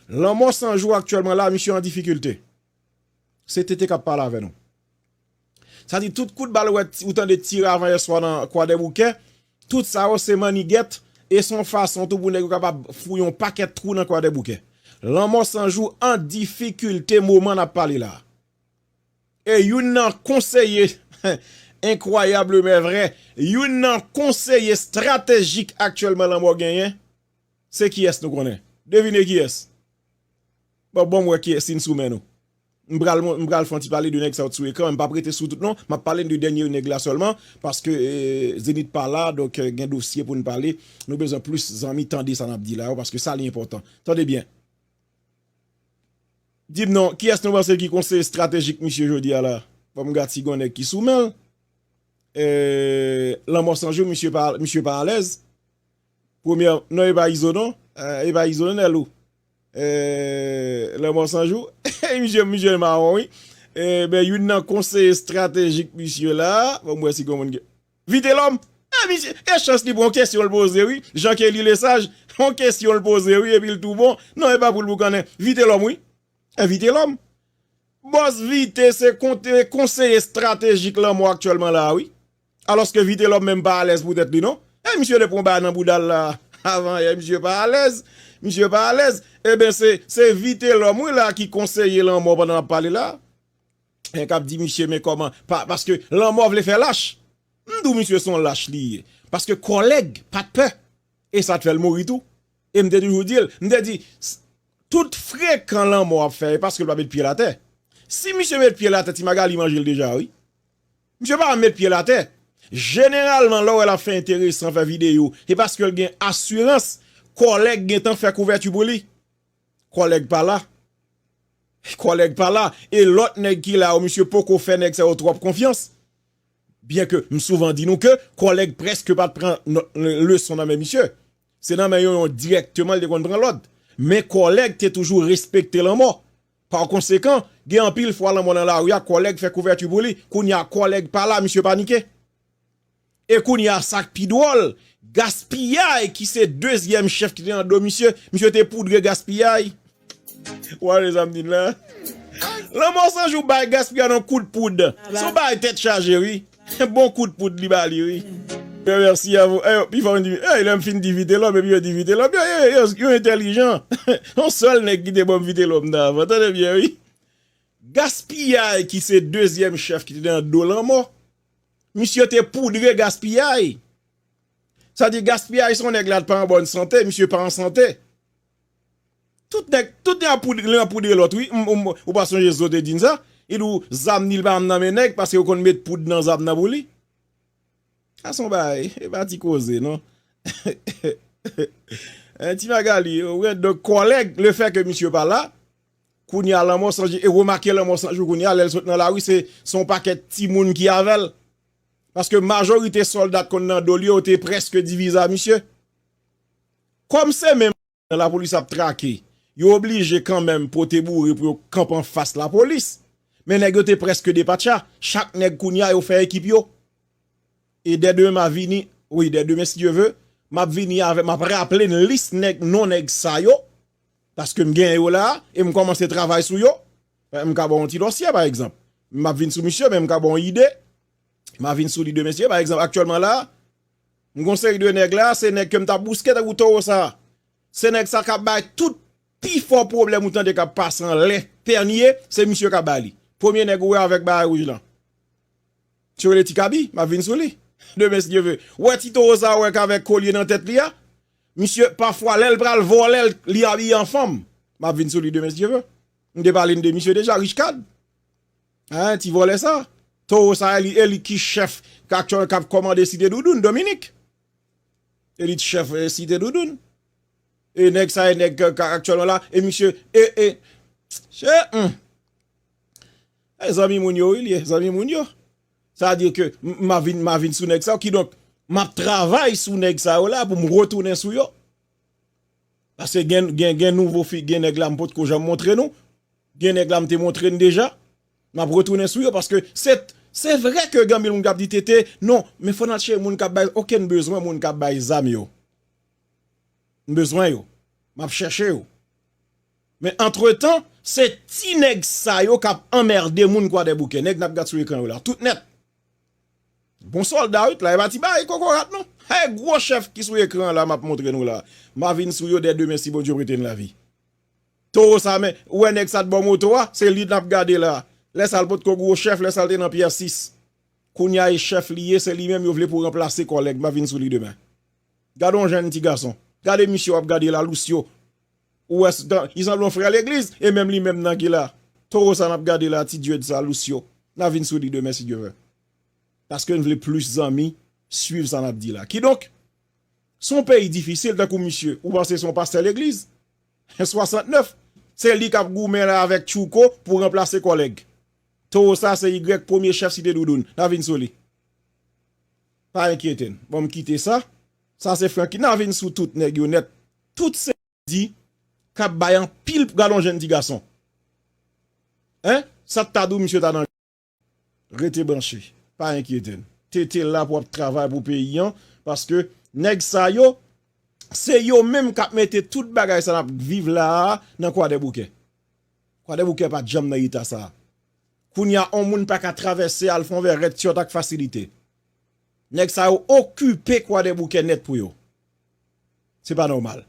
Lanmò san jou aktyèlman la misye an difikilte. Se TT kap pale avè nou. Sa di tout kout bal ou tande tire avan yè swa nan Kwadèboukè, tout sa yo se mannigèt e se yon fason tou pou nèg yo kapab fouye yon pakèt twou nan Kwadèboukè. Lanmò san jou an difikilte moman nap pale la. E youn nan konseye, enkwayablemèvrè, youn nan konseye stratejik aktyèlman lanmò genyen, Se kiyès nou konnen? Devine kiyès? Bon banm wè kiyès si n sou men nou. M pral m pral fè yon ti pale de nèg sa yo t sou ekran, m pap rete sou tout non, map pale n de dènye nèg la sèlman, paske Zenith pa la, donk gen dosye pou n pale, nou bezwen plis zanmi tande sa nap di la yo paske sa li enpòtan. Tande byen. Di m non, kiyès nou panse ki konseye estratejik misye jodi a la? Bon m gad si gen yon nèg ki sou men l. Lanmò 100 jou misye pa misye pa alèz. Premyè non e pa izo non e pa izo non Nèlou eeh lanmò san jou eeh misye misye mawon wi eeh youn nan konseye estratejik misye la banm wè si gon moun gen Vitelòm eeh misye e chans li pran kesyon l poze wi Jean Kelly Lesage on kesyon l poze wi epi l tou bon non e pa pou l boukannen Vitelòm wi eeh Vitelòm bòs Vite se konseye estratejik lanmò aktyèlman la a wi. Alòske Vitelòm menm pa alèz pou tèt li non. E misye te pran yon bagay nan bouda l la avan yè misye pa alèz. Misye pa alèz. Eben se se Vitelòm wi la ki konseye lanmò pandan l ap pale la. K ap di misye men kòman pa paske lanmò vle fè lach. M di w misye se yon lach li ye. Paske kòlèg pa t pè. E sa t fè l mouri tou. E m te toujou di l. M te di tout frekan lanmò ap fè e paske l pa met pye l atè. Si misye met pye l atè ti Magali manje l deja wi. Misye pa met pyel atè. Jeneralman lè w wè l ap fè enteresan, fè videyo, se paske l gen asirans kòlèg gentan fè kouvèti pou li. Kòlèg pa la. Kòlèg pa la. E lòt nèg ki la yo, misye poko fè nèg sa yo twòp konfyans. Byenke m souvan di nou ke kòlèg prèske pa t pran leson nan men misye. Se nan men yon yon dirèkteman l te konn pran lòd. Men kòlèg te toujou respekte l anmò. Pakonsekan, gen anpil fwa lanmò nan lari a kòlèg fè kouvèti pou li, kounye a kòlèg pa la misye panike. E kounye a sa k pi dwòl, Gaspiyay ki se dezyèm chèf ki te nan do misye, misye te poudre Gaspiyay. Ou wè sa m di n la? Lanmò Sanjou bay Gaspiyay yon kout poud. Se yon bagay tèt chaje wi. Se bon kout poud li ba li wi. Yo merci a vous eyo pi fò di wi lèm fin di vitelòm epi yo di vitelòm yo yo entèlijan son sèl nèg ki te banm vitelòm nan avan tande byen wi gaspiyay ki se dezyèm chèf ki te nan do lanmò misye te poudre gaspiyay sa di gaspiyay son nèg la t pa an bòn sante misye pa an sante. Tout nèg tout yap poudre youn ap poudre lòt wi ou pa sonje zo te di'n sa li di w zam ni li pa janm nan men nèg paske yo konn met poud nan zam nan pou li sa son bagay e pa ti koze non eh ti Magalie ou gen de kòlèg le fè ke misye pa la kounya lanmò san jou e remake lanmò san jou kounya lèl sot nan lari se son pakèt timoun ki avèl paske majorite sòlda t konn nan dol yo yo te prèske diviza misye Kòm se menm jan lapolis ap trake, yo oblije kanmenm pote boure pou yo k kanpe anfas lapolis. Men nèg yo te prèske depatcha, chak nèg kounye a yo fè ekip yo. E dè demen ma vini, wi dè demen si Dye ve, map vini avè map raple n lis nèg non nèg sa yo, paske m gen yo la a e m kòmanse travay sou yo. M ka ba w yon ti dòsyè pa egzanp. Map vin sou misye men m ka ba w yon ide. Ma vin sou li demen si e pa egzanp aktyèlman la a. M gon seri de nèg la, se nèg ke m ta bouske tankou towo sa. Se nèg sa ka bay tout pi fò pwoblèm ou tande kap pase anlè, tènye, se misye ka bay li. Premye nèg ou wè avèk bagay wouj lan. Misye rele Ti Kabi, map vin sou li. Demen si Dye ve. Ou wè ti towo sa ou wè kavèk kolye nan tèt li a? Misye pafwa lèl pral vòlè li abiye an fanm. Map vin sou li demen si Dye ve. M te pale n de misye deja, Richecad. Hein ti vòlè sa. Toro sa e li e li ki chèf kap kap kòmande site doudoun Dominique. E li t chèf site doudoun. E nèg sa e nèg kap aktyèlman la e misye e e che humm. E zanmi moun yo wi li ye zanmi moun yo. Sa vle di ke ma vin ma vin sou nèg sa yo kidonk map travay sou nèg sa yo la pou m retounen sou yo. Paske gen nouvo fi gen nèg la m potko janm montre nou, gen nèg la m te montre n deja, map retounen sou yo paske se vre ke gen anpil moun kap di TT non men fò nan chèche moun kap bay ok m bezwen moun kap bay zam yo, m bezwen yo, map chèche yo men antretan se ti nèg sa yo kap anmerde moun kwadèboukè, nèg nap gad sou ekran yo la tout nèt. Bon solda wi t la epa ti bagay kokorat non hey gwo chèf ki sou ekran an la map montre nou la ma vin sou yo dè demen si Bondye prete n lavi toro sa men ou wè nèg sa t bò moto a se li nap gade la lè sa l potko gwo chèf lè sa l te nan pyè 6 kounya e chèf li ye se li menm yo vle pou ranplase kòlèg ma vin sou li demen gade yon jèn ti gason gade misye wap gade la lousyo Ou wè li sanble yon frè legliz e menm li menm nan ki la toro sa nap gade la ti dieude sa lucio na vin sou li demen si Dieu veut paske n vle plis zanmi swiv sa nap di la kidonk son peyi difisil tankou misye ou panse son pastè legliz 69 se li kap goumen la avèk tchouko pou ranplase kòlèg toro sa se y premye chèf site doudoun na vin sou li pa enkyete n bon m kite sa sa se franky na vin sou tout nèg yo nèt Tout se bandi kap bay anpil pral yon jèn ti gason hein sak ta dou misye ta nan Rete branche pa enkyete n TT la pou ap travay pou peyi an paske nèg sa yo se yo menm kap mete tout bagay sa nap k viv la a nan kwadèboukè kwadèboukè pat janm nan eta sa kounya on moun paka travèse al fon vè rèt tyòt ak fasilite nèg sa yo okipe kwadèboukè nèt pou yo. Se pa nòmal.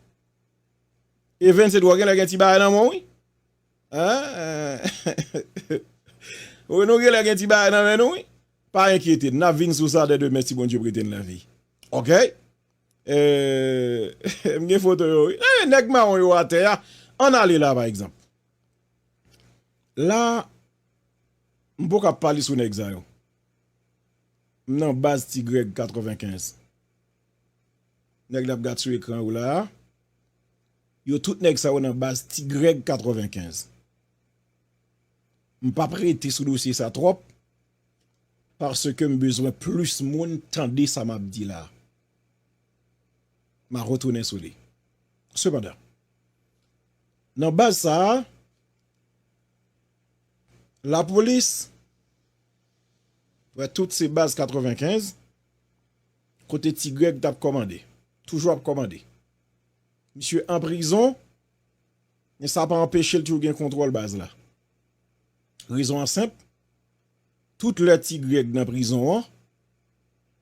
Evens Edouard genlè gen ti bagay nan men w wi. Eehh nou genlè gen ti bagay nan men nou wi. Pa enkyete n, n ap vin sou sa dè demen si Bondye prete n lavi. Ok. Eehh m gen foto yo wi. Eehh nèg mawon yo atè a. Ann ale la pa egzanp. La m poko ap pale sou nèg sa yo. M nan baz Ti Grèg 95. Nèg nap gad sou ekran yo la a yo tout nèg sa yo nan baz Ti Grèg 95. M pap rete sou dosye sa twòp paske m bezwen plis moun tande sa map di la a. Ma retounen sou li. Sepandan, nan baz sa a lapolis Wè tout se baz 95 kote ti greg tap kòmande toujou ap kòmande misye an prizon men sa pa anpechel toujou gen kontwòl baz la rezon an senp tout lè ti greg nan prizon an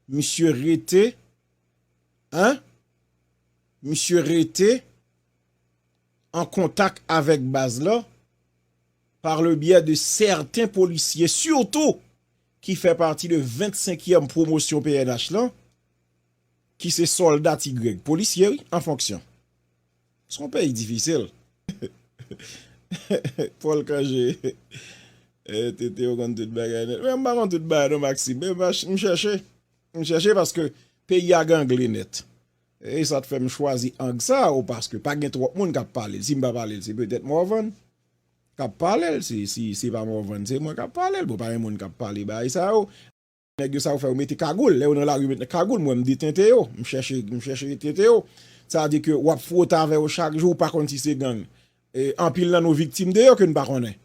misye rete hein misye rete. an kontak avèk baz la par le byè de sèten polisye sitou ki fè pati de 25 yèm pwomosyon pnh lan ki se sòlda ti Grèg, polisye wi, an fonksyon. Se yon peyi difisil. Paul Cangé, TT ou konn tout bagay nèt. Mwen m pa konn tout bagay non Maxime, m chèche, m chèche paske peyi a gangle nèt. E sa t fè m chwazi ang sa o paske pa gen twòp moun k ap pale l. Si m pa pale l se petèt Morvan k ap pale l. Si se pa Morvan se mwen k ap pale l. Bon pa gen moun k ap pale bagay sa yo. Nèg yo sa yo fè yo mete kagoul. Lè yo nan lari yo mete kagoul. M wè m detente yo. M chèche m chèche detente yo. Sa di ke w ap fwote avè yo chak jou ou pa konn si se gang. Anpil nan nou viktim de yo ke n pa konnen.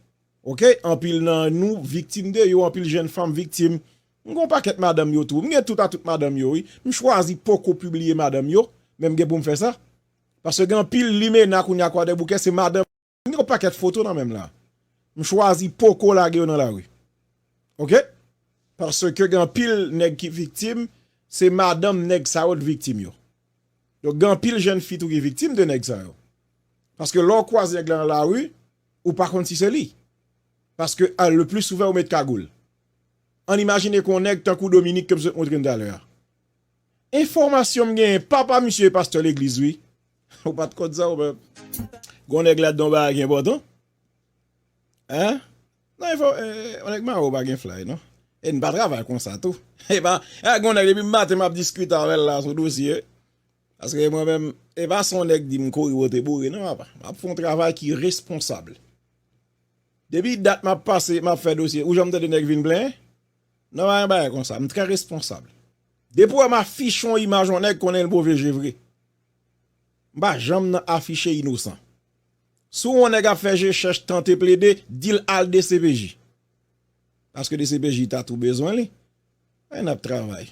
Ok anpil nan nou viktim de yo. Anpil jenn fanm viktim M gen yon pakèt madanm yo tou. M gen tout a tout madanm yo wi. M chwazi poko pibliye madanm yo, men m gen pou m fè sa. Paske gen anpil limena kounye a kwadèboukè se madanm. M gen yon pakèt foto nan men m la. M chwazi poko lage yo nan lari. Ok. Paske gen anpil nèg ki viktim, se madanm nèg sa yo t viktim yo. Donk gen anpil jenn fi tou ki viktim de nèg sa yo. Paske lè w kwaze nèg la nan lari, ou pa konn si se li. Paske le pli souvan yo met kagoul. Ann imajine kon nèg tankou Dominique ke m sot montre n talè a. Enfòmasyon m genyen, papa misye e pastè legliz wi. Ou pa t konn sa ou menm? Gen yon nèg ladan yon bagay ki enpòtan. Hein? Nan enfò, yon nèg mare w pa gen flay non. E n pa travay konsa tou. E pa, e gen yon nèg depi maten m ap diskite avè l la sou dosye. Paske mwen menm, e pa se yon nèk di m kouri wote boure non papa. M ap fè yon travay ki responsab. Depi dat map pase map fè dosye ou janm tande nèg vin plenyen nan pa gen bagay konsa m trè responsab depi ou wèm afiche yon imaj yon nèg konnenl move je vre m pa janm nan afiche inosan si yon nèg ap fè je chèch tante plede dil al dcpj paske dcpj ta tou bezwen li nap travay.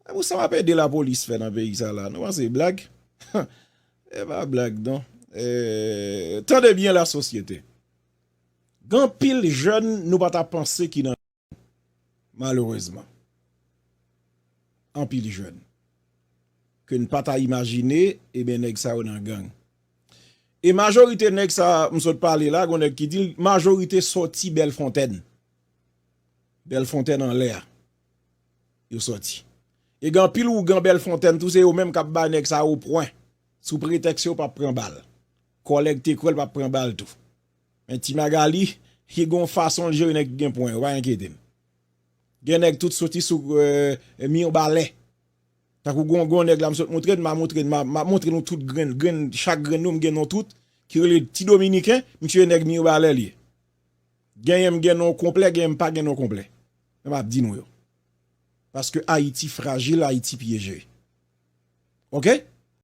E pou sa wap ede la police fè nan peyi sa la nou panse e blag huh e pa blag non eeh tande byen la sosyete gen anpil jèn nou pa ta panse ki nan gang malerezman anpil jèn ke n pa ta imajine eben nèg sa yo nan gang e majorite nèg sa m sot pale la gon nèg ki di l majorite sòti bèlfontèn bèlfontèn anlè a. yo sòti. E gen anpil ougan Bèlfontèn tou se yo menm k ap ba nèg sa yo pwen sou pretèks yo pap pran bal. Kòlèg Tekwèl pap pran bal tou. Men Ti Magali, li gen yon fason l jere nèg ki gen pwen yo, pa enkyete n. Gen nèg tout soti sou Mirbalè. Tankou gen yon nèg la m sot montre n, m a montre n, m ap montre nou tout grenn, grenn, chak grenn yo m gen non tout, ki rele Ti Dominiken, misye nèg Mirbalè l ye. Genyen m gen non konplè, genyen m pa gen non konplè. Mwen pa di nou yo. Paske Ayiti frajil, Ayiti pyeje. Ok?